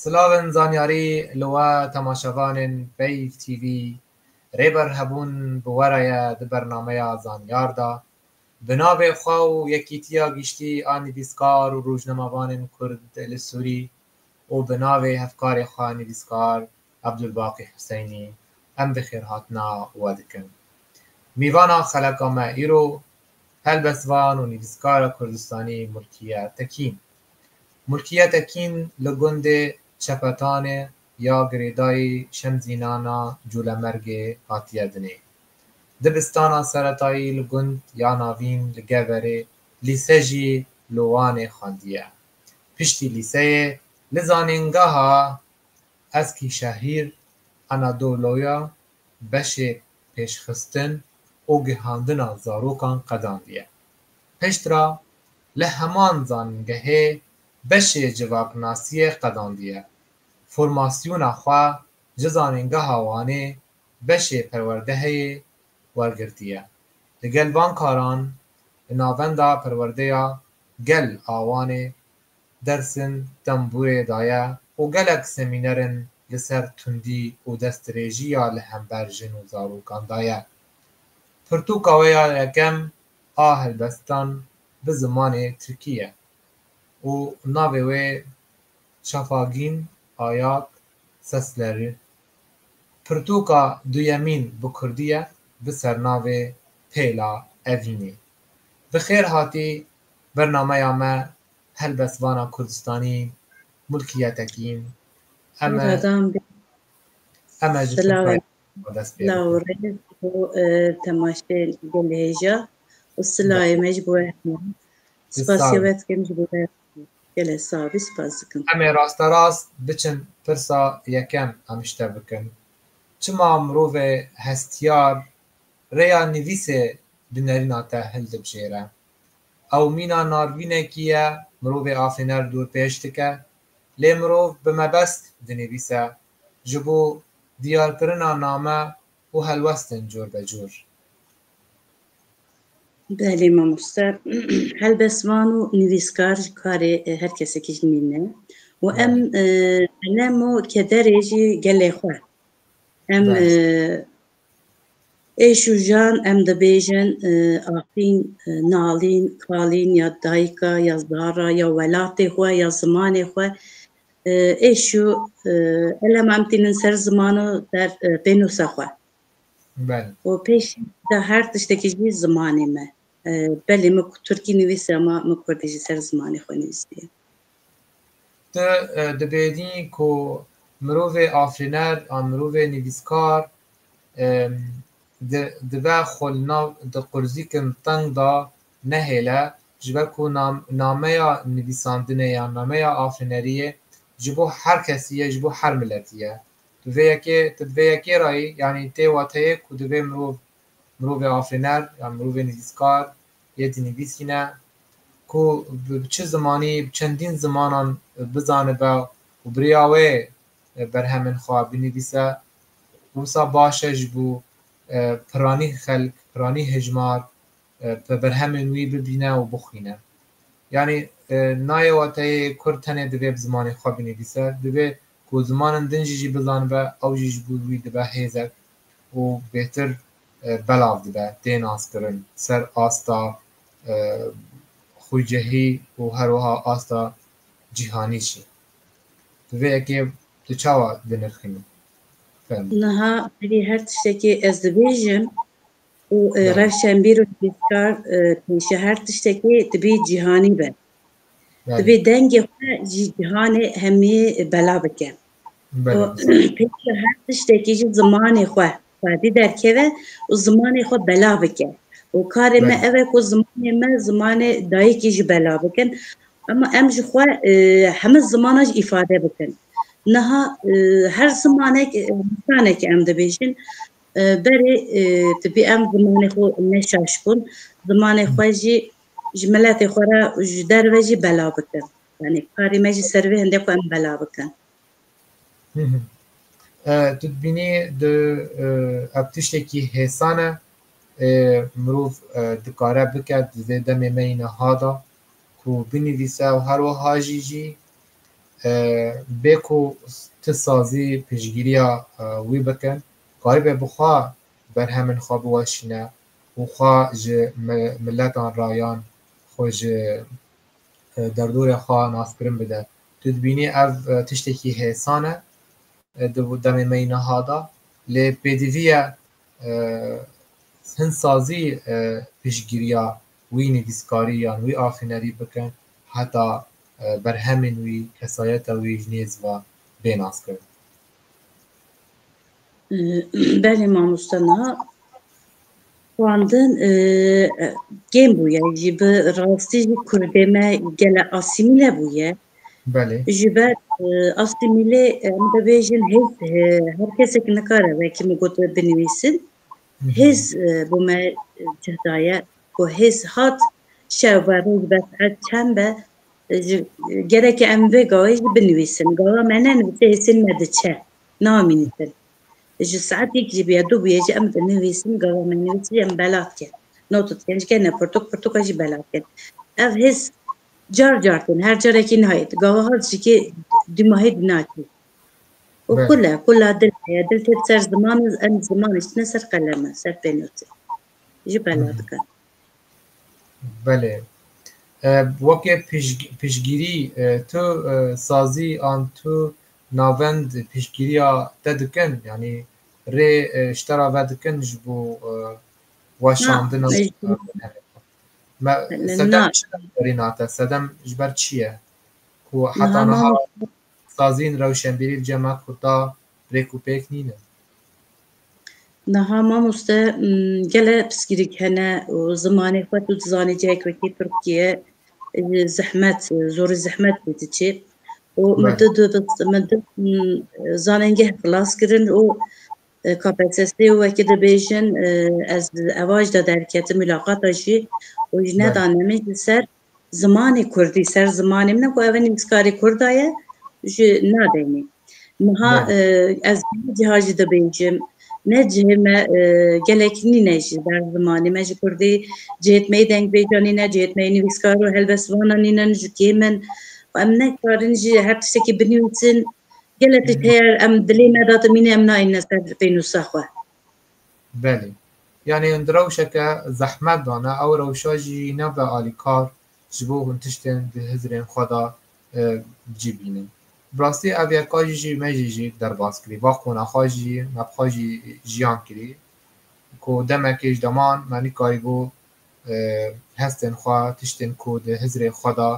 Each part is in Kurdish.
Silavên zanyarî li we temaşevanên Peyv TV Rêber Hebûn bi we re ye di bernameya Zanyar de. Bi navê xwe û Yekîtiya Giştî a Nivîskar û Rojnamevanên Kurd li Sûrî û bi navê hevkarê xwe nivîskar Ebdulbaqî Huseynî em bi xêrhatina we dikin. Mîvana xeleka me îro Helbestvan û nivîskara Kurdistanî Mulkiye Tekîn Mulkiye Tekîn li gundê Çepetanê ya girêdayî Şemzînana Colemergê hatiye dinê. Dibistana seretayî li gund ya navîn li Geverê, lîse jî li Wanê xwendiye. Piştî lîseyê li zanîngeha Eskîşehîr Anadolu'ya beşê pêşxistin û gihandina zarokan qedandiye. Piştre li heman zanîngehê beşê civaknasiyê qedandiye. Formasyona xwe ji Zanîngeha Wanê beşê perwerdeheyê wergirtiye. Li gel van karan li navenda perwerdeya gel a Wanê, Dersim tembûrê daye û gelek semînerên li ser tundî û destdirêjiya li hember jin û zarokan daye. Pirtûka wê ya yekem a helbestan bi zimanê tirkî ye û navê wê Çafagîn Ayak Sesleri. Pirtûka duyemîn bi kurdî ye bi sernavê Pêla Evînê. Bi xêr hatî bernameya me Helbet vana Kurdistanî mulkiyetekî in. Em e em e ji Tirkayê ve dest pê bikin. Em ê rasterast biçin pirsa yekem em ji te bikin, çima mirovê hestiyar rêya nivîsê di nerîna te hildibijêre? Ew mîna navînekî ye mirovê afêner dûr pêş dike, lê mirov bi mebest dinivîse ji bo diyarkirina name û helwestin cor be cor. Belê mamoste, helbestvan û nivîskar ji karê her kesekî ji nîn e û em qelem û kederê jî gelê xwe em Ê şûjan em dibêjin afîn, nalîn, kalîn ya dayika ya zara ya welatê xwe ya zimanê xwe ê şû elema em tînin ser ziman û ser pênûsa xwe. Û pêş da her tiştekî jî zimanê me. Belê min ku Tirkî nivîse ma min Kurdî jî ser zimanê xwe nivîsiye. Tu dibêhnî ku mirovê afirîner an mirovê nivîskar dibe xwe li nav di qurzîkin teng de nehêle ji ber ku nameya nivîsandinê yan nameya afirîneriyê ji bo her kesî ye ji bo her miletî ye. Tu vê yekê tu di vê yekê re yî yanî tê wateyê ku divê mirov mirovê afirîner yan mirovê nivîskar Yê dinivîsîne ku bi çi zimanî, bi çendîn zimanan bizanibe û bi rêya wê berhemên xwe binivîse, wisa baş e ji bo piranî xelk, piranî hejmar bi berhemên wî bibîne û bixwîne. Yanî nayê wateyê kurd tenê divê bi zimanê xwe binivîse, divê Ku zimanin din jî jî bizanibe ew jî ji bo wî dibe hêzek û bêtir belav dibe tê naskirin ser asta xwecehî û her wiha asta cîhanî jî. Bi vê yekê tu çawa dinirxînî? Fehmî. Niha berî her tiştekê ez dibêjim û rewşenbîr û nivîskar pêşî her tiştekê dibî cîhanî be. divê dengê xwe ji cîhanê hemî bela bike û pêşî her tiştekî jî zimanê xwe xwedî derkeve û zimanê xwe bela bike û karê me ev e ku zimanê me zimanê dayikî jî bela bikin ema em ji xwe e, hemû zimana jî îfade bikin niha e, her zimanek e, lisanekê em dibêjin e, berê e, dibê em zimanê xwe neşaşbûn zimanê xwe jî ji miletê xwe re û ji derve jî bela bikin. Yanî karê me jî ser vê hinde ku em bela bikin. Tu dibînî di ev tiştekî hêsan e mirov dikare bike di vê demê me yî niha de ku binivîse û her wiha jî jî bê ku ti sazî piştgîriya wî bikin karîbe bi xwe berhemên xwe biweşîne û xwe ji miletan rayan xwe ji derdorê xwe naskirin bide. Tu dibînî ev tiştekî hêsan e di demê me yî niha de lê pêdivî ye hin sazî piştgiriya wî nivîskarî yan wî afînerî bikin heta berhemên wî, kesayeta wî ji nêz ve bê naskirin. Belê mamoste niha xwendin kêm bûye jî bi rastî jî Kurdê me gele asîmîle bûye. Belê. Ji ber asîmîlê em dibêjin hêz her kesek nikare wekî min got binivîsin. Hêz bo me cih daye ku hêz hat şev be roj be saet çend be gereke em vê gavê jî binivîsin. Gava me nenivîse hêsên me diçe. Nawa min nivîsir. Ji saetêk jî bûye, du bûye jî em di nivîsin gava me nivîsî jî em bela dikin. Not dikin ji ke ne pirtûk pirtûka jî bela dikin. Ev hêz car car tên, her carekî nayê. Di gavaha ji ke dû mahê dî nakê. Û kul e, kul a dil heye. Dil têt ser ziman û em ziman diştine ser qeleme, ser pênûsê. Jî bela dikin. Belê. Weke piştgîrî tu sazî an tu navend piştgîriya te dikin yanî rê ji te re vedikin ji bo weşandina sedem çi derbarîna te sedem ji ber çi ye ku heta niha sazîn rewşenbîrî li cem a kurda rêk û pêk nînin. Niha mamoste gele piskîrîk hene û zimanê xwe tu dizanî cihek wekî Tirkiye ji zehmet zorî zehmet bû tu çê û min tu dibist min tu zanengeh xilas kirin û KPSS û wekî dibêjin ez evaj de derketim mûlaqata jî û ji nedanê min ji ser zimanê kurdî ser zimanê min e ku ev nivîskarê kurda ye ji nadenê niha ez ciha jî dibêjim ne cihê me gelek nîne jî ber zimanê me ji kurdî cihêt me dengbêja nîne cihêt me nivîskar û helbestvana nînin ji kê min em nekarin jî her tiştekî binivîsin gelek tişt heye em dilê me datimîne em nayîne ser pênûsa xwe Belê. Yanî hûn di rewşeke zehmet de ne, ew rewşa jî nebe alîkar ji bo hûn tiştên di hizirên xwe de cî bînin. Bi rastî ev yeka jî jî me jî jî derbas kirî. Va qûna xwe jî me bi xwe jî jiyan kirî ku demekê ji deman me nikarîbû hestên xwe, tiştên ku di hizirê xwe de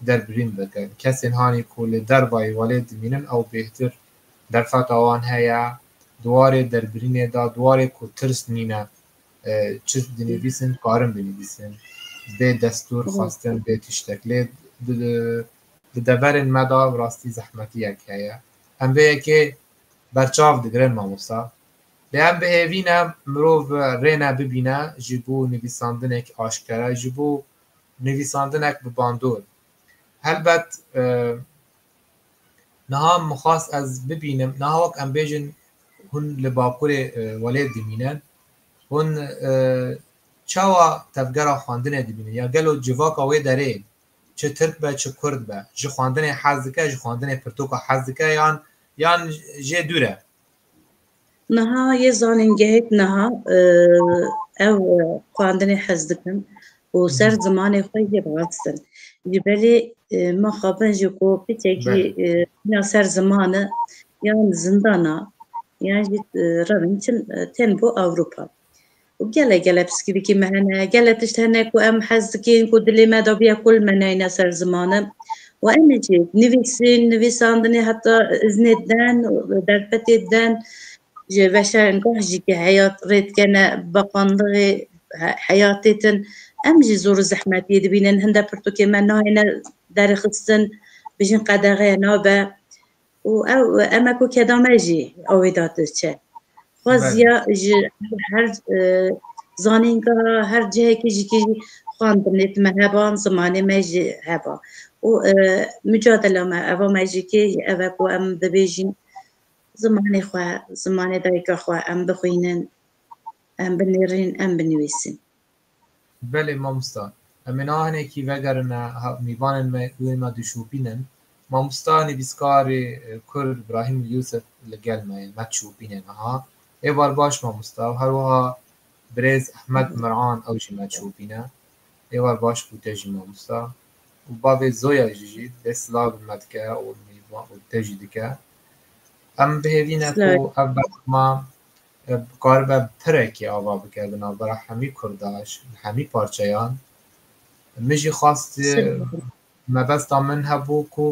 derbirîn bikin. Kesên hanî ku li dervayî welêt dimînin ew bêhtir derfeta wan heye di warê derbirînê de, di warê ku tirs nîne çi dinivîsin dikarin binivîsin bê destûr xwestin bê tiştek lê di deverên me de rastî zehmetiyek heye. Em vê yekê berçav digirin mamosta. Lê em bi hêvî ne mirov rêne bibîne ji bo nivîsandinekî aşkere, ji bo nivîsandinek bi bandor. Helbet Niha min xwest ez bibînim, niha wek em bêjin hûn li Bakurê Welêt dimînin, hûn çawa tevgera xwendinê dibînin ya gelo civaka wê derê çi Tirk be çi Kurd be ji xwendinê hez dike, ji xwendinê pirtoka hez dike yan yan jê dûr e. Niha yê zanîngehêk niha ew xwendinê hez dikin û ser zimanê xwe yê bixistin. Ji belê me xabin jî ku piçekî ya ser ziman e yan zindana yan jî revin çin tên bo Ewropa. Gelek gelek piskîrîkî me hene, gelek tişt hene ku em hez dikên ku dilê me de bûye kul me neyne ser zimane û em ê jî nivîsîn, nivîsandinê heta iznê diden û derfetê diden ji veşarengeh jî ke heyat rê dikene beqandixê heyatê din em jî zor û zehmetiyê dibînin. Hinde pirtûkên me nayêne derxistin, bijîn qedexe nabe. û ew eme ku keda me jî awê da diçe. Xwaziya ji her zanînga her cihekî jî kî xwendin lê dime heba zimanê me jî heba û mucadela me eva me jî kê jî ev e ku em dibêjîn zimanê xwe zimanê dayika xwe em bixwînin em binêrîn em binivîsin. Belê mamosta. Em ê niha hinekî vegerine mîvanên me û ên me dişopînin. Mamosta nivîskarê Kurd Brahim Yusuf li gel me ye, me dişopîne niha. Êvar baş mamosta û her wiha birêz Ehmed Mir'an ew jî me dişopîne. Êvar baş ku te jî mamosta û bavê Zoya jî jî dê silav li me dike û te jî dike. Em bihêvîne ku ev berxema Karibe pirekê ava bike di navbera hemî kurda ji hemî parçeyan. Min jî xwest mebesta min hebû ku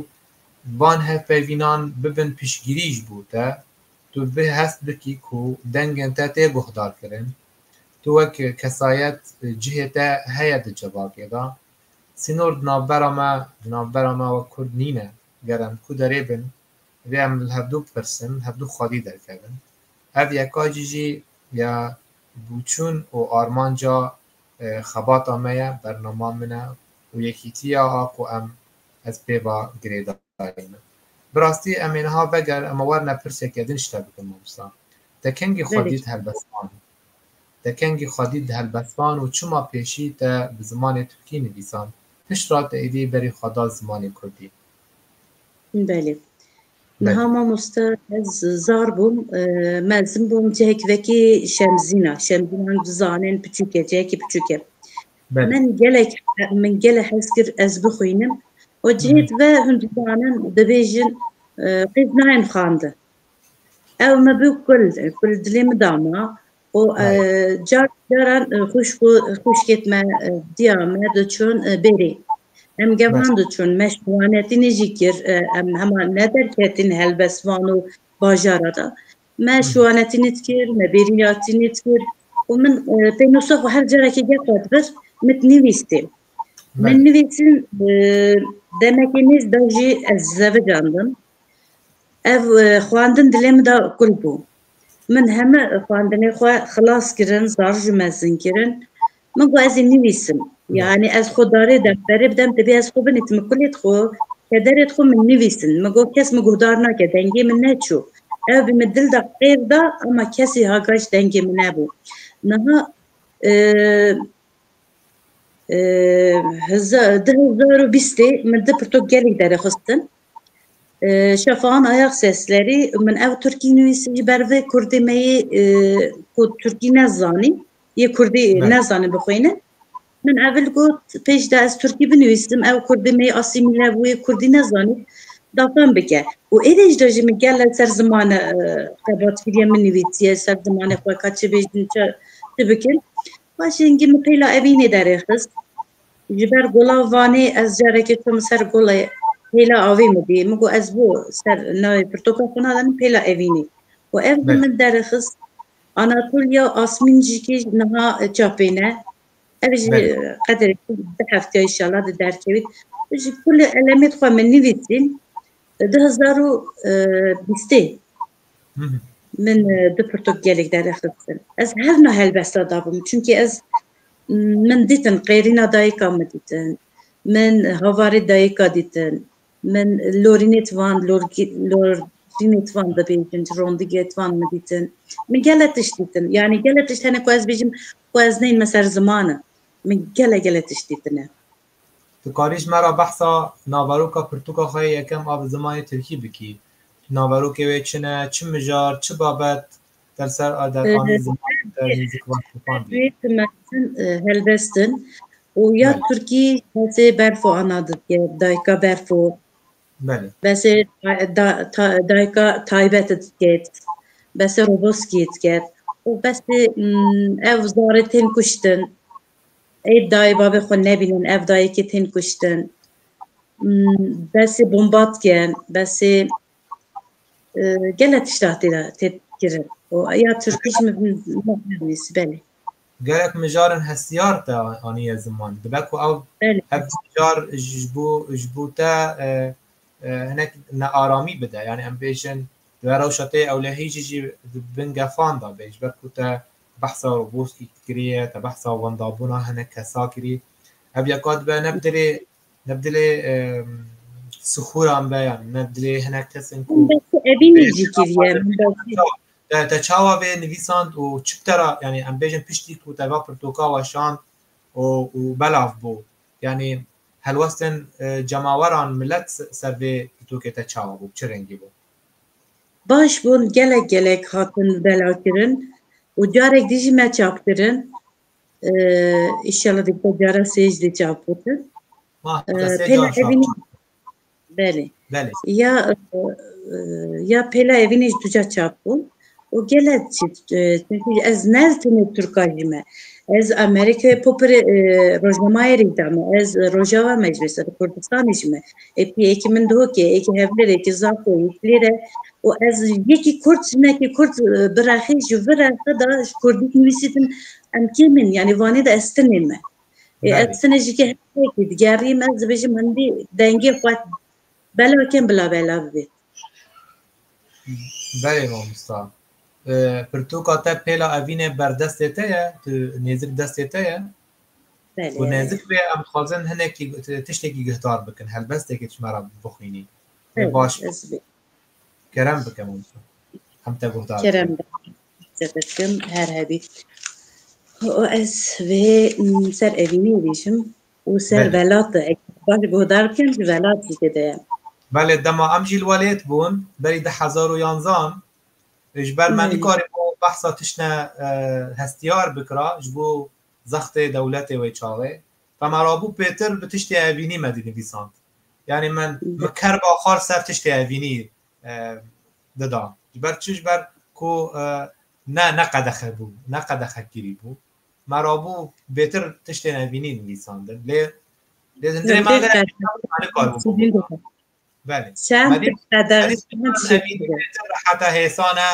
van hevpeyvînan bibin piştgirî ji bo te. Tu bi hest bikî ku dengên te tê guhdarkirin. Tu wek kesayet cihê te heye di civakê de. Sînor di navbera me di navbera me wek kurd nîne. Ger em ku derê bin rê em li hevdû bipirsin, hevdû xwedî derkevin. Ev yeka cî jî ya bûçûn û armanca xebata me ye, bernama min e û yekîtiya a ku em ez pê ve girêdayî me. Bi rastî em ê niha veger em ê werne pirseke din ji te bikim mamosta. Te kengî xwe dît helbestvan? Te kengî xwe dît di helbestvan û çima pêşî te bi zimanê tirkî nivîsand, pişt re te êdî berî xwe da zimanê kurdî? Belê. Niha mamosta ez zar bûm mezin bûm cihek vekî şemzîna şemzînan dizanên piçûke cihekî piçûke min gelek min gele hez kir ez bixwînim û cihêt ve hûn dizanin dibêjin qêz nayên xandin ew me bi kul kul dilê min dama û car caran xwişk û xwişkêt me diya me diçûn bêrê. Em gevan diçûn me şiwanetînê jî kir em hema ne derketîn helbestvan û bajara da. Me şiwanetînê dikir, me bêrînatînê dikir û min pênûsa xwe her carekê gefa dibir min nivîstê. Min nivîsin demekê nêz da jî ez zevicandim. Ev xwendin dilê min da kul bû. Min heme xwendinê xwe xilas kirin, zar ji mezin kirin. Min got ez ê nivîsim. Yanî ez xwe darê defterê bidem, divê ez xwe binivîsim. Min kulê xwe, kederê xwe min nivîsin. Min got kes min guhdar nake, dengê min neçû. Ew bi min dil da, qêv da ama kesî ha gaş dengê min nebû. Niha du hezar û bîstê min du pirtûk gelek derê xistin. Şefahan Ayag Seslerî min ew Tirkî nivîsî ji ber vê Kurdê me yê ku Tirkî ne zanî yê Kurdî ne zanî bixwîne. Min evil got pêş de ez Tirkî binivîsim ew Kurdê me yê asîmîle bûye Kurdî ne zanî da fem bike. Û êdî ji de jî min gele ser zimane xebatkiriye min nivîsiye ser zimanê xwe ka çi bêjin çi bikin. Paşê hingî min pêla evînê derê xist. Ji ber gola Vanê ez carekê çûm ser golê pêla avê min dî. Min got ez bo ser navê pirtoka xwe nadanim pêla evînê. Û ev li min derixist Anatolya Asmîn jî kî niha çapê ne. Ev jî qederê xwe du hefteya înşallah di derkevît. Min jî kulê elemê xwe min nivîsîn di hezar û bîstê. Min di pirtuk gelek derexistin. Ez her na helbesta dabûm çünkî ez min dîtin qêrîna dayika min dîtin. Min havarê dayika dîtin. Min lorînêt van lorînêt van dibêjin ji rondigêt van min dîtin. Min gele tişt dîtin. Yanî gele tişt hene ku ez bêjim ku ez neyme ser ziman e. Min gele gele tişt dîtine. Tu karî ji me re behsa naveroka pirtûka xwe yê yekem a bi zimanê tirkî bikî. Naverokê wê çi ne, çi mijar, çi babet der ser a dekanê zimanê te hîn zik vat xapandî. Ev duyê tu mezin helvestin û ya Belê. tirkî besê berfo ana dike, dayika berfo. Belê. Besê da ta dayika taybet dike, besê roboskî dike û besê ew zarê tên kuştin. Ê dayê bavê xwe nebînin ev dayikê tên kuştin. Besê bomba dikin, besê gelek tişta tê de tê kirin. û Ya Tirkî jî min nivîs belê. Gelek mijarin hestiyar te aniye ziman. Dibe ku ew ev mijar ji bo ji bo te hinek nearamî bide. Yanî em bêjin dibe rewşa te yê ewlehî jî jî di bin gefan de bê ji ber ku te Behsa robust î kiriye te behsa wendabûna hinek kesa kirî. Ev yeka dibe ne bi dilê ne bi dilê sixûran be yan ne bi dilê hinek kesin ku Evînî jî kiriye te te çawa vê nivîsand û çi tera yanî em bêjin piştî ku te va pirtoka weşand û û belav bû yanî helwestên cemaweran milet ser vê pirtokê te çawa bû çi rengî bû. Baş bûn gelek gelek hatin belakirin û carek dî jî me çap kirin. Îşallah di ku cara sê jî dê çap bikin. Pêla evînî belê. Ya ya pêla evînî jî ducar çap bûn. û gele çi çünkü ez ne tenê Turka jî me. Ez Amerîkayê popirê rojnamayê rî da me. Ez Rojava me jî me ser Kurdistanê jî me. Êpî êkî min dihokê, êkî Hevlêrê, êkî Zako, êkî lêre û ez yekî Kurd jinekî Kurd birexî ji vir re xwe da ji Kurdî nivîsî din em kêm in yanî vanê de ez tenê me. Ê ez tenê jîkê her yekî digerîm ez dibêjim hindî dengê xwe bela kem bila bela bibê. Belê mamosta. Pirtûka te pêla evînê berdestê te ye, tu nêzik destê te ye. Belê. Û nêzik bê em dixwazin hinekî tiştekî guhdar bikin, helbestekê tu me re bixwînî. Belê, baş bû. Ez bê. Kerem bike mamosta. Em te guhdar bikin. Kerem bike. Te bikim her hebî. Û ez vê ser evînê bêjim. û ser velat e. Baş guhdar bikin ji velat jî tê de ye. Belê dema em jî li welêt bûn berî du hezar û yanzan ji ber me nikarîbû behsa tiştine hestiyar bikira ji bo zextê dewletê wê çaxê ta me rabû pêtir bi tiştê evînî me dinivîsand yanî min min kerba xal ser tiştê evînî dida ji ber çi ji ber ku ne ne qedexe bû ne qedexekirî bû. me rabû bêtir tiştên evînî nivîsandin lê lê di nirê me de Belê. Heta hêsane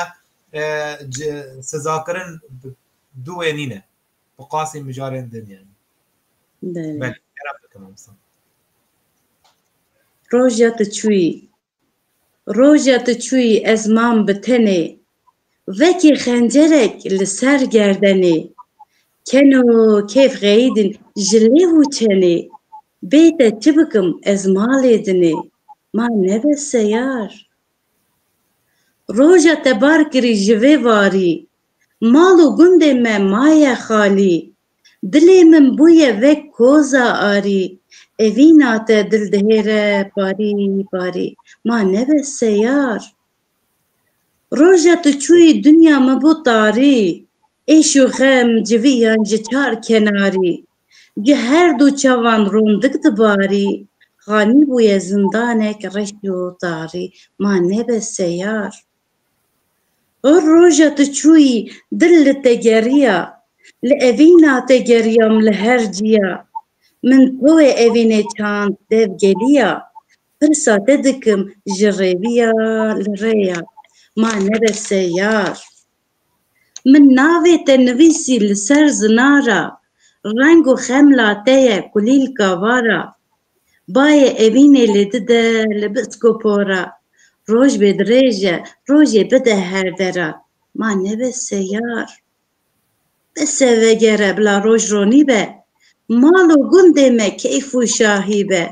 sizakirin duwê nîne bi qasî mijarên din yani. Belê. Belê. Roja tu çûyî Roja tu çûyî ez mam bi tenê. Vekî xencerek li ser gerdenê. Ken û kêf xeyîdin ji lêv û çenê. Bê te çi bikim ez malê dinê. Ma nebe seyar. Roja te bar kirî ji vê varî. Mal û gundê me maye xalî. Dilê min bûye wek koza arî Evîna te dil dihêre parî parî Ma nebe seyar Roja tu çûyî dinya min bû tarî Êş û xem civiyan ji çar kenarî Ji her du çavan rondik dibarî Xanî bûye zindanek reş û tarî Ma nebe seyar. O roja tu çûyî dil li te geriya, li evîna te geriyam li her ciya, min tewê evînê çand dev geliya, pirsa te dikim ji rêviya li rêya ma nebese yar. Min navê te nivîsî li ser zinara, reng û xemla te ye kulîlka vara, Bayê evînê lê dide li bisko pora. Roj bê dirêj e, rojê bide her dera. Ma nebe seyar. Bese vegere bila roj ronî be. Mal û gundê me keyf û şahî be.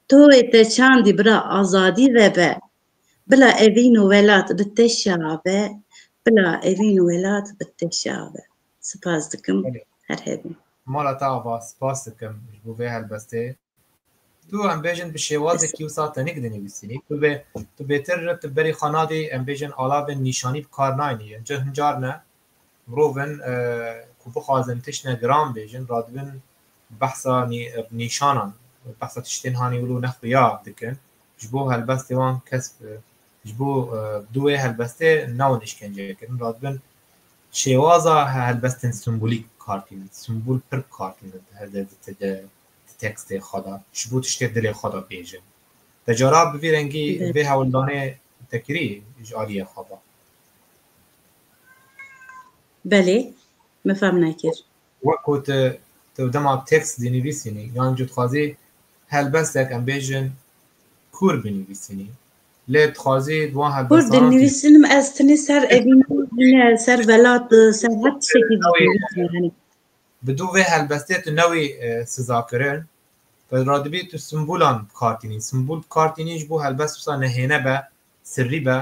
Toyê te çandî bira azadî vebe. Bila evîn û welat bi te şabe. Bila evîn û welat bi te şabe. Spas dikim. Her hebî. Mala te ava. Spas dikim ji bo vê helbestê. Tu em bêjin bi şêwazekî wisa tenî dinivîsînî. Tu bê tu bêtir tu berî xwe nadî em bêjin alavên nîşanî bi kar nayênî. Yên tu hin car ne mirov in ku bixwazin tiştine giran bêjin radibin behsa nîşanan behsa tiştên hanî wilo ne xuya dikin. Ji bo helbestê wan kes ji bo bi dû wê helbestê newin îşkenceyê kirin. Radibin Şêwaza helbestên sîmbolîk kar tînin. Sîmbol pir kar tînin di hevdê di ti de, di tekstê xwe de, ji bo tiştê dilê xwe de bêjin. Te cara bi vî rengî vê hewldanê te kirî ji aliyê xwe ve? Belê, min fehm nekir. Wek ku tu tu dema tekst dinivîsînî yan cotxwazî helbestek em bêjin kûr binivîsînî, Lê dixwazî di wan Kur helbestanên tî- dinivîsinim ez tenê ser evîn yine ser velat ser her tiştekî dinivîsim yani. Bi dû vê helbestê tu newî e, sizakirin. Bi radibî tu simbolan bi kar tînî. Simbol bi kar tînî ji bo helbest wisa nehêne be, sirrî be.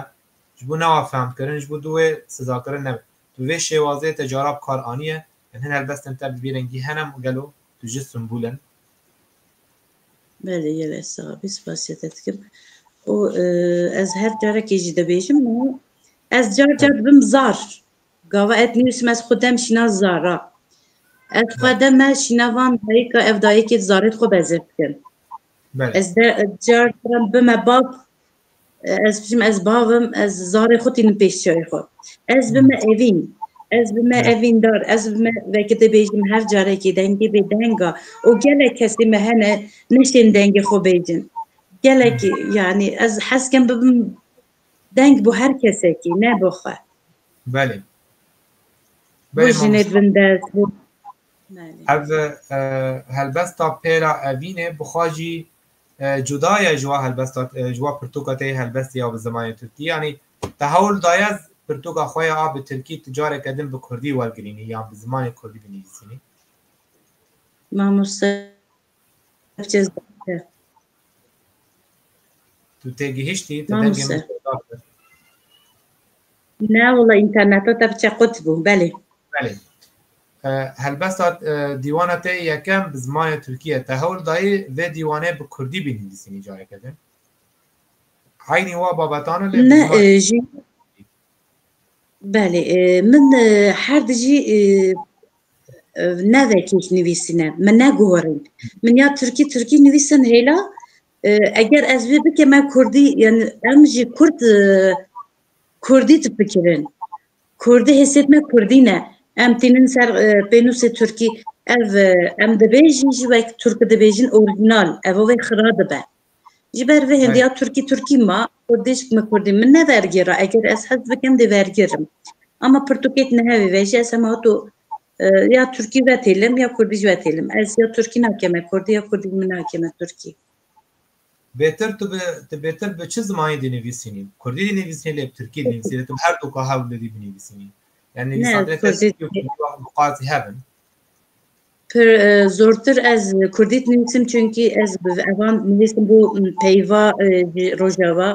Ji bo newa fehmkirin, ji bo dû wê sizakirin nebe. Tu bi vê şêwazê te cara bi kar aniye. Em hin helbestên te bi vî rengî hene gelo? Tu ji simbolin. Belê yele Sabî spasiya te dikim û ez her carekê jî dibêjim û ez car car dibim zar. Gava et nivîsim ez xwe dem şîna zara. Ez xwe de me şîna van dayika ev dayikê zarê xwe bezir dikim. Ez de car caran bime bab Ez dibêjim ez bavim ez zarê xwe tînim pêş çiyayê xwe. Ez bi me evîn ez bi me evîndar ez bi me vekî dibêjim her carekî dengê bê denga û gelek kesî me hene neşên dengê xwe bêjin. Gelekî yanî ez hez kim bibim deng bo her kesekî ne bo xwe. Belê. Bo jinê bin dest bo. Ev e, helbesta pêra evînê bi xwe jî Cudaye ji wa helbesta ji wa pirtûka te yê helbestê ya bi zimanê tirkî yanî te hewl daye pirtûka xwe ya a bi tirkî tu careke din bi kurdî wergirînî yan bi zimanê kurdî binivîsînî? Mamoste Çêz Baker. Tu têgihiştî, tu dengê min şewitdar kir. Na wala interneta te biçe qut bû belê. Belê. Helbesta dîwana te yekem bi zimanê Tirkî ye. Te hewl dayî vê dîwanê bi Kurdî bînivîsînî cayeke din? Eynî wa babetan e lê bi zimanê Belê. Min her di jî nevekî nivîsîne. Min neguherîn. Min ya Tirkî Tirkî nivîsin hêla eger ez vê bikim em Kurdî em jî Kurd Kurdî difikirin. Kurdî hêsiyet me Kurdî ne. Em tînin ser pênûsê Tirkî. Ev em dibêjin jî wek Tirki dibêjin orîjînal. Evo vê xira dibe. Ji ber vê hêndiya Tirkî Tirkî ma, Kurdî ji me Kurdî. Min ne vergîr e. Eger ez hez bikim dê vergîr im. Ama pirtûkek niha vê vejî ez hema to ya Tirkî vetêlim ya Kurdî jî vetêlim. Ez ya Tirkî nakim me Kurdî ya Kurdî min nakim me Tirkî. Bêtir tu bi tu bêtir bi çi zimanî dinivîsînî? Kurdî dinivîsînî lê bi tirkî dinivîsî lê tu bi her du ka hewl bidî binivîsînî. Yani nivîsandinê te tirkî û kurdî wextê ku qasî hev in. Pir zortir ez kurdî dinivîsim çunkî ez bi evan nivîsim bo peyva ji rojava.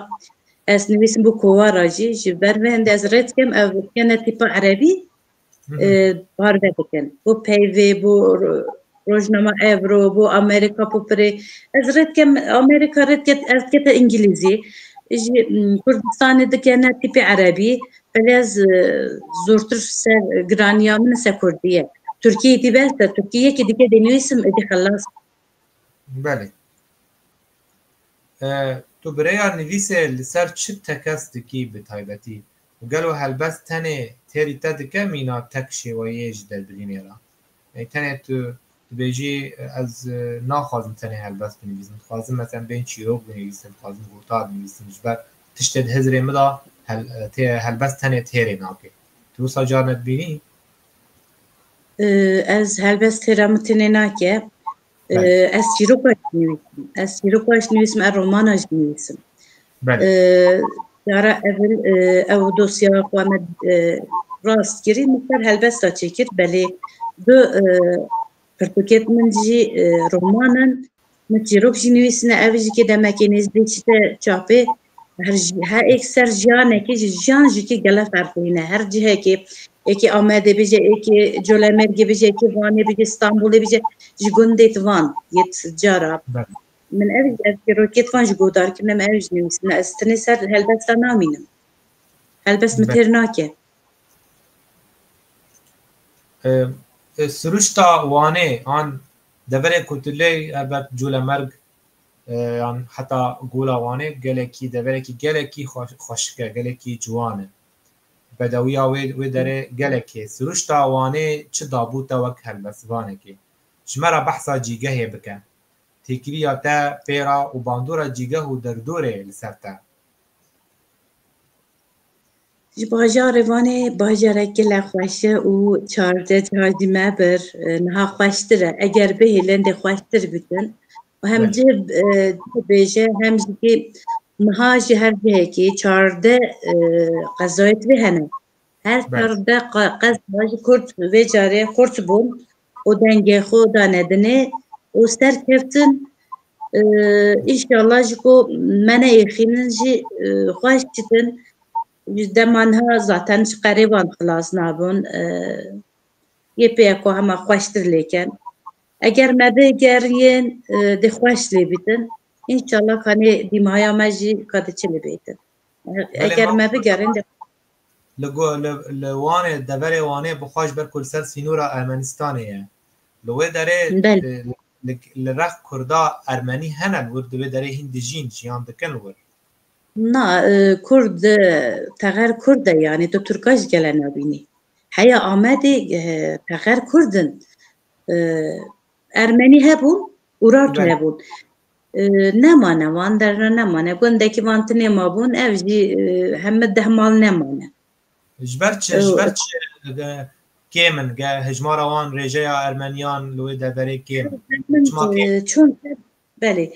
Ez nivîsim bo kovara jî ji ber vê hindê ez rê dikim ev bikene tîpa erebî. parve dikin. Bo peyvê, bo rojnama Ebro, bo Amerîka Popirê. Ez rê dikem Amerîka rê dike ez dikete îngilîzî. Ji Kurdistanê dikene tîpê erebî. Belê ez zortir ser giraniya min ser kurdî ye. Tirkîyê dî behs de tirkî yekê dîkê dê nivîsim êdî xelas. Belê. Tu bi rêya nivîsê li ser çi tekez dikî bi taybetî? Û gelo helbest tenê têrî te dike mîna tek şêweyê ji derbirînê re? Yanî tenê tu dibêjî ez naxwazim tenê helbest binivîsim, dixwazim meselem bên çîrok binivîsim, dixwazim gota binivîsim ji ber tiştê di hizirê min de helbest tenê têrê nake. Tu wisa carine dibînî? Ez helbest têra min tenê nake. Ez çîroka jî nivîsim. Ez çîroka jî nivîsim, ez romana jî nivîsim. Cara evil ew dosya xwe me rast kirî min ser helbesta çêkir belê du pirtûkêt min jî romanin min çîrok jî nivîsine ev jî kê demekê nêzdî çîte çapê Her her êk ser jiyanekê ji jiyan ji kê gele ferq bîne. Her cihekê êkê Amedê bije, êkê Colemêrgê bije, êkê Vanê bije, Stenbolê bije ji gundê di van yê ti cara. Min ev ev çîrokê di van ji godar kirine min ew jî nivîsine. Ez tenê ser helbesta namînim. Helbest min têr nake. Siruşta Wanê an deverê ku tu lê helbet Colemêrg Yan heta Gola Wanê gelekî deverekî gelekî xweşik e, gelekî ciwan e. Bedewiya wê wê derê gelek e. Siruşta Wanê çi dabû te wek helbestvanekê? Ji me re behsa cîgehê bike. Têkiliya te pêra û bandora cîgeh û derdorê li ser te. Ji bajarê Vanê bajareke lê xweş e û çardeh cihar jî me bir niha xweştir e. Eger bihê lendê xweştir bikin û hem cih bibêje hem jî niha ji her cihekê çardeh qezayê tibê hene. Her çardeh qeza ji kurd vê carê xurt bûn û dengê xwe dane dinê û serkeftin inşallah ji ku me neyêxînin jî xweş dikin ji dema niha zaten ji qerê wan xilas nabin yê pêya ku hema xweştir lêken eger me bêgeriyên dê xweş lê bîtin inşallah kanê dîmaya me jî ka diçe lê bêtin eger me bigerin Li Wanê, deverê Wanê bi xwe ji ber ku li ser sînora Ermenistanê ye. Li wê derê li rex kurda ermenî hene li wir di wê derê hîn dijîn, jiyan dikin li wir. Na, kurd teğer kurd e yanî tu turka ji gele nabînî. Heya Amedê teğer kurd in. Ermenî hebûn û rato hebûn. Nemane van der re nemane. Gundekî van tinê mabûn ev jî heme deh mal nemane. Ji ber çi ji ber çi kêm in ge hejmara wan rêjeya ermeniyan li wê deverê kêm çon belê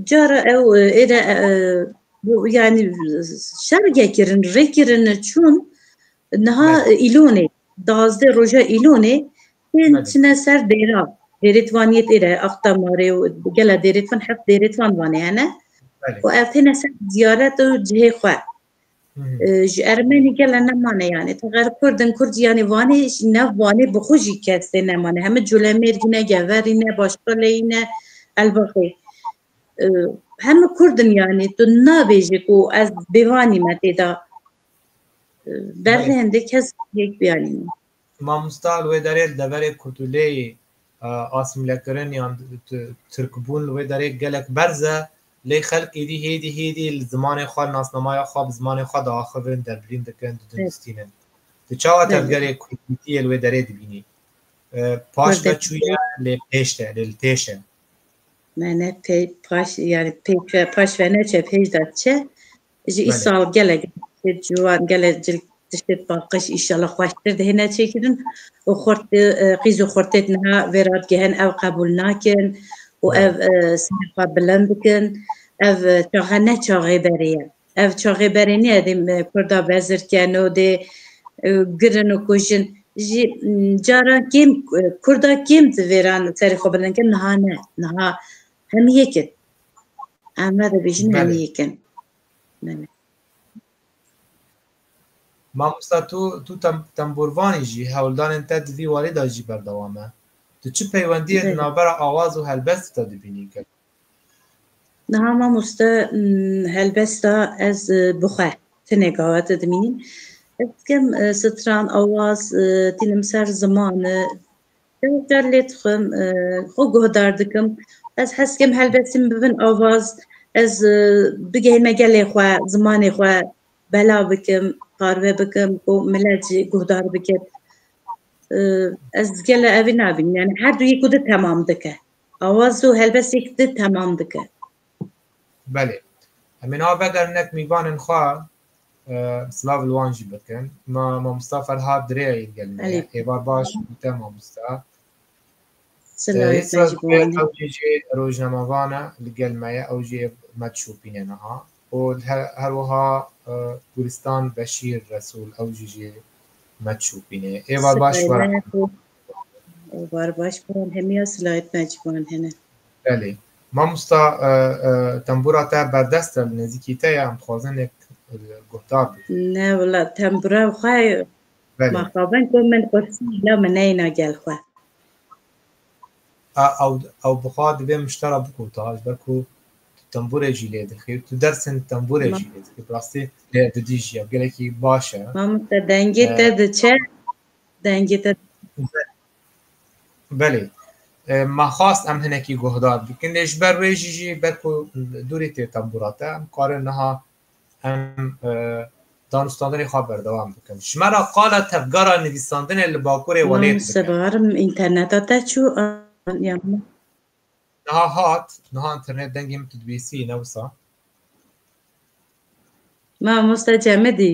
cara ew êre yanî şer gekirin rêkirin çon niha îlonê dazdê roja îlonê Tên çine ser dêra dêrêtvaniyê tê re axta marê û gela dêrêtvan heft dêrêtvan vanê hene û ev têne ser ziyaret û cihê xwe. Ji ermenî gele nemane yanê teqer kurdin kurd yanê vanê ji nav vanê bi xwe jî kes tê nemane heme colemêrgî ne geverî ne başkaleyî ne elbaxê. Heme kurdin yanê tu nabêjî ku ez bêvanî me tê da. Derve hende kes hêk biyanî. Mamosta li wê derê li deverê Kurtuleyê asimlekirin yan Tirkbûn li wê derê gelek berz e lê xelk êdî hêdî hêdî li zimanê xwe li nasnamaya xwe bi zimanê xwe diaxivin, derbirîn dikin, didunistînin. Tu çawa tevgerê Kurdîtiyê li wê derê dibînî? Paş ve çû ye lê pêş de lê li pêş e. Me ne pê paş yani pê paş ve neçe pêş de çe Ji îsal gelek tiştê ciwan, gelek tiştê paqij îşala xweştir dihêne çêkirin û qîz û xurtêt niha vê radgehên ew qebûl nakin û ev serê xwe bilind dikin. Ev çaxe ne çaxê berê ye. Ev çaxê berê niye dê kurda bezirken û dê girin û kujin. Jî caran kêm kurda kêm divêran serê xwe bilind bikin niha ne. Niha Em yekin. Em ne dibêjin em Belê. yekin. Belê. Mamosta tu tu tem, temburvanî jî hewldanên te di vî warî de jî berdewam e. Tu çi peywendiyê di Belê. navbera awaz û helbestî de dibînî ki? Niha mamoste mm, helbesta ez e, bi xwe tine gawete dimînim. Ez dikim e, stran, awaz, e, tînim ser ziman, e, Car car lê dixwim, xwe guhdar dikim. Ez hes dikim helbestî min bibin avaz, ez bigihîme gelê xwe, zimanê xwe bela bikim, parve bikim ku milet jî guhdar bike. Ez gele evî nabînim. Yani her du yek û di temam dike. Awaz û helbest yek di temam dike. Belê. Em ê niha vegerîn nek mîvanên xwe Silav li wan jî bikin. Ma mamosta Ferhat dirêya yê gelê me ye. Hêvar baş û te mamosta. Silav Yê te jî bi wan Ew jî jê rojnamevan e li gel me ye. Ew jî yê me dişopîne niha. Û her wiha Gulistan Beşîr Resûl ew jî jê me dişopîne. Hêvar baş were. Bar baş bi wan hemiya silayet me ji wan hene. Belê. Mamosta tembura te berdest e li nêzîkî te ye em dixwazin nek guhdar bê. Ne wila tembura xwe ma xabin ku min qursî îna min neyna gel xwe. Ew bixwa divê min ji te re bigota ji ber ku tu temburê jî lê dixî û tu dersên temburê jî lê dixî bi rastî lê didîjî ev gelekî baş e. Mamosta dengê te diçe Dengê te Belê. Me xwast em hinekî guhdar bikin lê ji ber wê jî jî ber ku dûrî tê tembûra te em karin niha em danûstandinê xwe berdewam bikin. Ji me re qala tevgera nivîsandinê li Bakurê welêt bike. Sebar înterneta te çû ya min. Niha hat, niha internet dengê min tu dibîsî ne wisa. Mamoste Cemidî.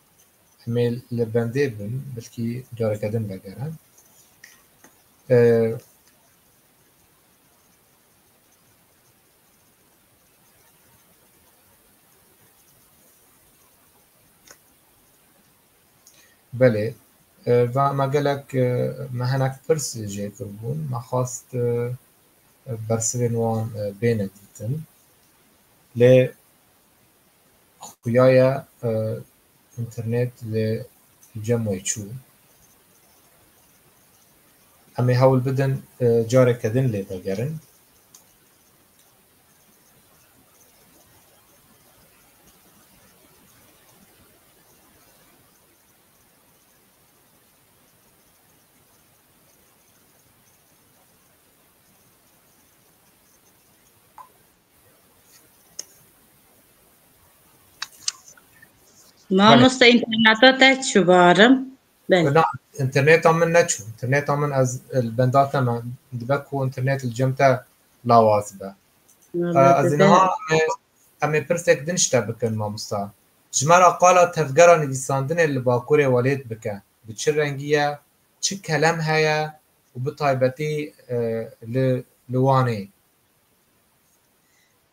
Em ê li bendê bin, bilkî careke din vegerin. Belê, va me gelek me hinek pirs jê kirbûn, me xwest bersivên wan bêne dîtin lê xuya ye internet li cem wê çû. Em ê hewl bidin careke din lê vegerin. Mamoste interneta te çû barim. Belê. Na, interneta min neçû. Interneta min ez li benda te me. Dibe ku internet li cem te lawaz be. Valla Ez ê dibe. niha em ê- em ê pirsek din ji te bikin mamosta. Ji me re qala tevgera nivîsandinê li Bakurê Welêt bike. Bi çi rengî ye, çi kelem heye û bi taybetî eh, li li Wanê.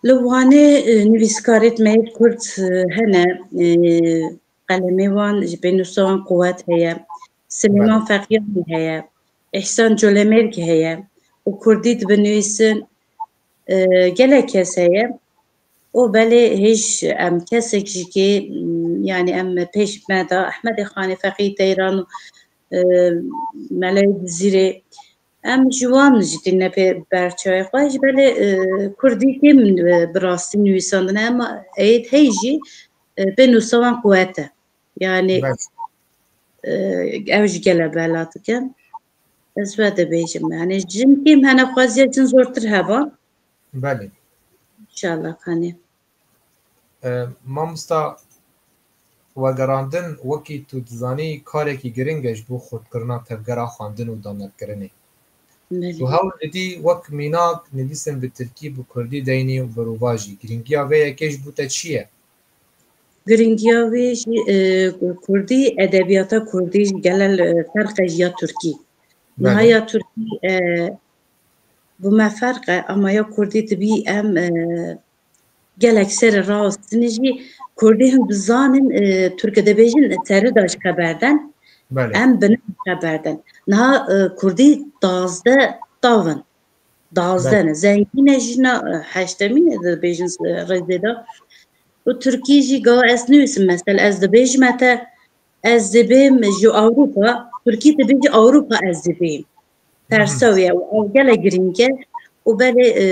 Li Wanê nivîskarê Meyit Kurt hene, qelemê wan ji pênûsa wan quwet heye. Silêman Feqîyanî heye, Îhsan Colemêrg heye û kurdî dibinivîsin. Gelek kes heye û belê hêj em kesek ji kê yanî em pêş me da Ehmedê Xanê Feqî Teyran û Mele Dizîrê. Em ji wan jî tîne pê berçavê xwe ji belê Kurdî kêm bi rastî nivîsandine em êd hey jî pê nûsa wan quwet e. Yanî ew ji gele bela dikin. Ez we dibêjim yanî jin kêm hene xweziya jin zortir heba. Belê. İnşallah kanê. Mamosta wergerandin wekî tu dizanî karekî giring e ji bo xurtkirina tevgera xwendin û danetkirinê. Tu hewl didî wek mînak nivîsin bi tirkî bi kurdî deynî û berovajî. Giringiya vê yekê ji bo te çi ye? Giringiya wê jî ku kurdî edebiyata kurdî ji gele li ferq e ji ya tirkî. Niha ya tirkî bi me ferq e ama ya kurdî dibî em Gelek serê rast din jî Kurdî hûn bizanin Tirkî dibêjin serê da ji xeber den. Em bi ne xeber den. Niha Kurdî dazdeh tav in. Dazdeh ne. Zengî ne jîna heştemî ne dibêjin rêzê da. Û Tirkî jî gawa ez nivîsim mesel ez dibêjime te ez dibêm ji Ewropa Tirkî dibêje Ewropa ez dibêm. persew ye û ev gelek girîng e û belê e,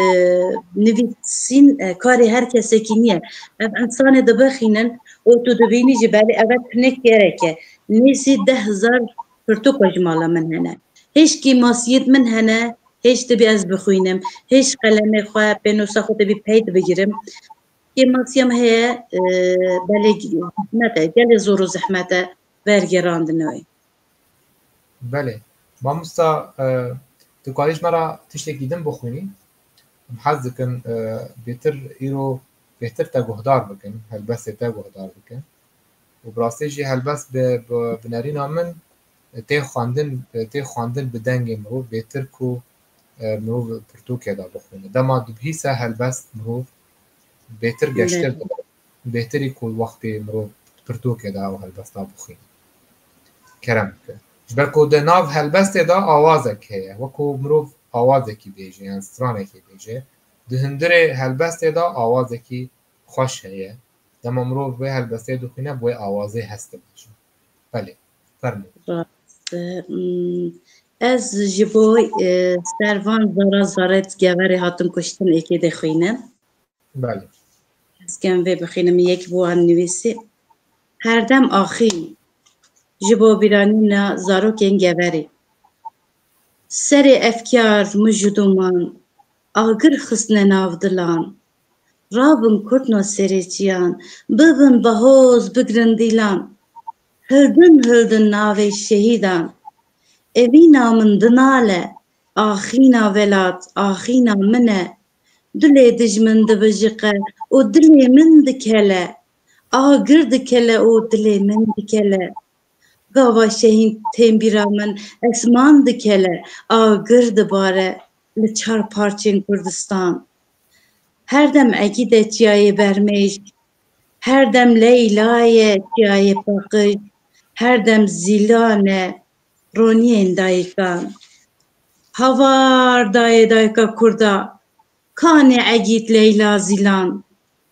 nivîsîn e, karê her kesekî niye. Ev însanê dibixînin û tu dibînî jî belê ev e pinek gerek e. Nêzî deh hezar pirtûka ji mala min hene. Hêj kêmasiyê di min hene, hêj tibî ez bixwînim, hêj qelemê xwe, pênosa xwe tibî peyt bigirim. Kêmasiya min heye e, belê zehmet e, gelê zor û zehmet e vergêrandina wê. Belê. Mamosta tu karî ji me re tiştekî din bixwînî? Em hez dikin bêtir îro bêtir te guhdar bikin, helbestê te guhdar bikin û bi rastî jî helbest bi bi nerîna min tê xwendin tê xwendin bi dengê mirov bêtir ku mirov pirtûkê de bixwîne. Dema dibihîse helbest mirov bêtir geştir dibin. Bêhtirî ku wextê mirov di pirtûkê de ew helbesta bixwîne. Kerem bike. Ji ber ku di nav helbestê de awazek heye. Wekû mirov awazekî bêje yan stranekê bêje. Di hundirê helbestê de awazekî xweş heye. Dema mirov wê helbestê dixwîne bi wê awazê hes dibêje. Belê. Fermû. Rast e. Ez ji bo ser van zara zaret geverê hatin kuştin êkê dê xwînim. Belê. Ez kêm vê bixînim yek bû an nivîsî her dem axîn ji bo bîranîna zarokên geverî. Serê efkar mij û doman agir xistine nav dilan. Rabin kurt noserêtiyan, bibin bahoz, bigirin dîlan. Hildin hildin navê şehîdan. Evîna min dinale, axîna velat, axîna min e, Dilê dijmin divijiqe û dilê min dikele, agir dikele û dilê min dikele. Gava şehîn têmbîra min esman dikele, agir dibare li çar parçên Kurdistan. Her dem egîd e çiyayê bermêşk, her dem leyla ye çiyayê paqij, her dem zîlan e. Roniyên dayikan Havar dayê dayika Kurda Kanê Egît Leyla Zîlan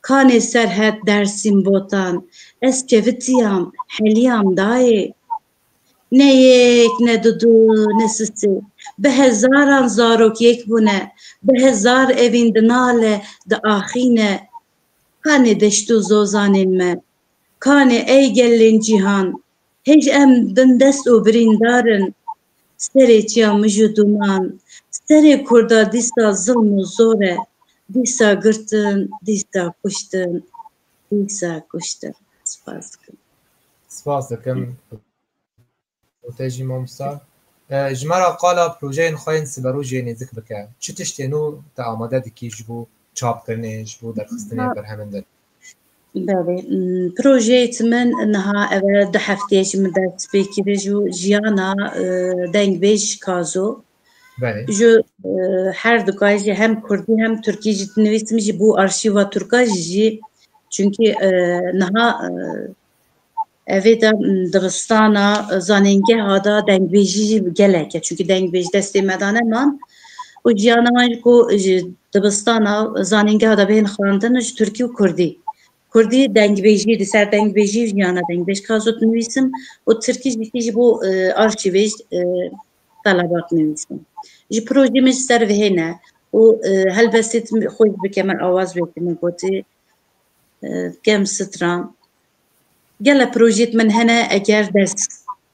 Kanê Serhet Dersîm Botan Ez kevitiyam heliyam dayê Ne yek ne du du ne si sê Bi hezaran zarok yek bûne Bi hezar evîn dinale diaxîne Kanê deşt û zozanên me Kanê ey gelên cîhan Hêj em bindest û birîndar in serê çiya mij û duman. Serê Kurda dîsa zilm û zor e, dîsa girtin, dîsa kuştin, dîsa kuştin. Spas dikim. Spas dikim û te jî mamosta. Ji me re qala projeyên xwe yên siberojê nêzik bike. Çi tiştên nû te amade dikî ji bo çapkirinê, ji bo derxistinê berhemin din? Belê, projeyê ji min niha ev e du hefteyê ji min dest pê kiriş û jiyana dengbêj ji Kazo. Belê. Ji her dikay jî hem Kurdî hem Tirkî jî dinivîsim jî bo arşîva Tirka jî çunkî niha Evê de dibistana zanîngeha da dengbêjî jî gelek e. Çunkî dengbêj destê me da neman û jiyana wan jî ku ji dibistana zanîngeha da bihên xwendin ji Tirkî û Kurdî. Kurdî dengbêjî di ser dengbêjî jiyana dengbêj ka zû dinivîsim û Tirkî jî tî ji bo arşîvê ji Telabat nivîsim. Ji projeyê min ji ser vihê ne û helbestî xwe jî bi kemel awaz wê tê min gotî Kem stran Gele projeyê di min hene eger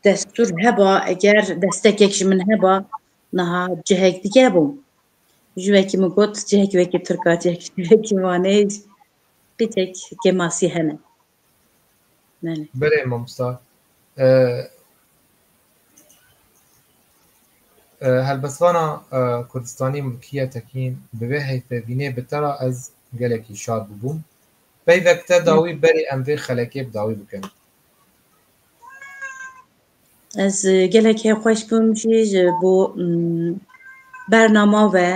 destûr heba, eger destekek ji min heba niha cihek dige bû. Ji wekî min got cihekî wekî Tirka, cihekî wekî Wanê qîtek kemasî hene. Belê mamosta. Helbestvana Kurdistanî Mulkîye Tekîn bi vê heyfevînê bi te re ez gelekî şad bûbûm. Peyvek te dawî berî em vê xelekê bi dawî bikin. Ez gelek hê xweş bûm jî ji bo bernama ve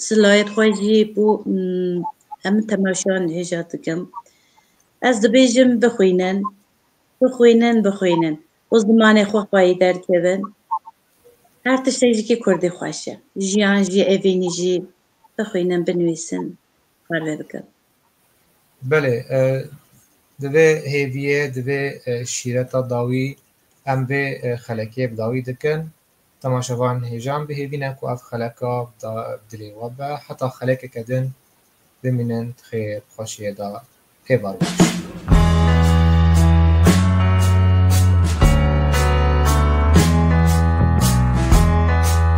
silayet xwe jî bo hemû temaşan hêja dikim. Ez dibêjim bixwînin, bixwînin, bixwînin û zimanê xwe xwayî derkevin. Her tiştek jî kurdî xweş e. Jiyan jî, evînî jî bixwînin, binivîsin. parve bikin. Belê, di vê hêviyê, di vê şîreta dawî em vê xelekê bi dawî dikin. Temaşevan hêjan bihêvîne ku ev xeleka da dilê we be. Heta xelekeke din bimînin di xêr û xweşiyê da pê var bikişînin.